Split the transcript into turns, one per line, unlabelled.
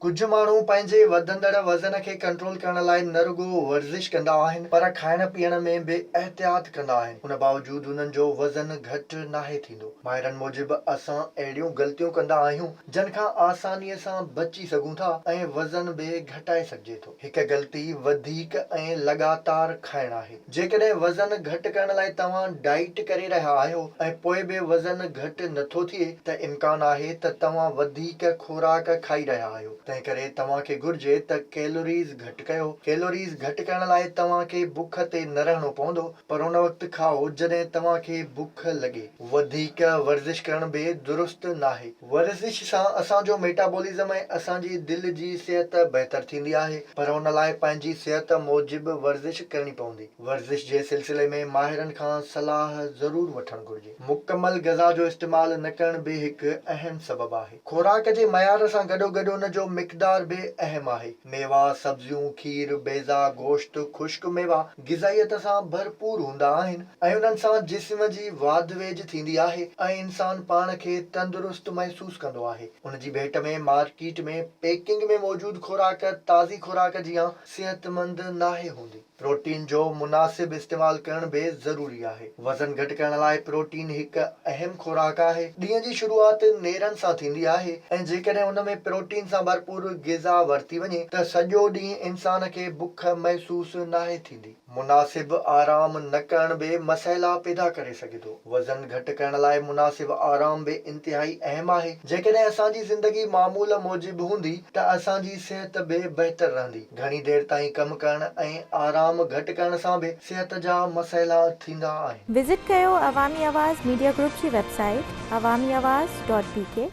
ڪجهه ماڻهو پنهنجي وڌندڙ وزن کي ڪنٽرول ڪرڻ لاء نه رڳو ورزش ڪندا آهن پر کائڻ پيئڻ ۾ به احتياط ڪندا آهن ان باوجود انهن جو وزن گهٽ ناهي ٿيندو. ماهرن موجب اسان اهڙيون غلطيون ڪندا آهيون جن کان آساني سان بچي سگهون ٿا ۽ وزن به گهٽائي سگهجي ٿو. هڪ غلطي وڌيڪ ۽ لڳاتار کائڻ آهي. جيڪڏهن وزن گهٽ ڪرڻ لاء توهان ڊائيٽ ڪري رهيا آهيو ۽ پوء به وزن گهٽ نٿو ٿئي ته امڪان آهي ته توهان وڌيڪ خوراڪ کائي رهيا آهيو. تنهنڪري توهان کي گهرجي ته ڪيلوريز گهٽ ڪيو. ڪيلوريز گهٽ ڪرڻ لاء توهان کي بک تي نه رهڻو پوندو پر ان وقت کائو جڏهن توهان کي بک لڳي. وڌيڪ ورزش ڪرڻ به درست ناهي. ورزش سان اسان جو ميٽابولزم ۽ اسان جي دل جي صحت بهتر ٿيندي آهي پر ان لاء پنهنجي صحت موجب ورزش ڪرڻي پوندي. ورزش جي سلسلي ۾ ماهرن کان صلاح ضرور وٺڻ گهرجي. مڪمل غذا جو استعمال نه ڪرڻ به هڪ اهم سبب آهي. خوراڪ جي معيار سان گڏوگڏ ان جو مقدار به اهم آهي. ميوا، سبزيون، کير، بيضا، گوشت، خشڪ ميوا، غذائيت سان ڀرپور هوندا آهن ۽ انهن سان جسم جي واڌ ويجهه ٿيندي آهي ۽ انسان پاڻ کي تندرست محسوس ڪندو آهي. ان جي ڀيٽ ۾ مارڪيٽ ۾ پيڪنگ ۾ موجود خوراڪ تازي خوراڪ جيان صحتمند ناهي هوندي. پروٽين جو مناسب استعمال ڪرڻ به ضروري آهي. وزن گهٽ ڪرڻ لاء پروٽين هڪ اهم خوراڪ آهي. ڏينهن جي شروعات نيرن سان ٿيندي آهي ۽ جيڪڏهن ان ۾ پروٽين سان ڀرپور غذا ورتي وڃي ته سڄو ڏينهن انسان کي بک محسوس ناهي ٿيندي. مناسب آرام نه ڪرڻ به مسئلا پيدا ڪري سگهي ٿو. وزن گهٽ ڪرڻ لاء مناسب آرام به انتهائي اهم آهي. جيڪڏهن اسان جي زندگي معمول موجب هوندي ته اسان جي صحت به بهتر رهندي. گهڻي دير تائين ڪم ڪرڻ ۽ آرام گهٽ ڪرڻ سان به صحت جا مسئلا ٿيندا آهن. وزٽ ڪيو
عوامي آواز ميڊيا گروپ جي web
site
Awami Awaz dot بي ڪي.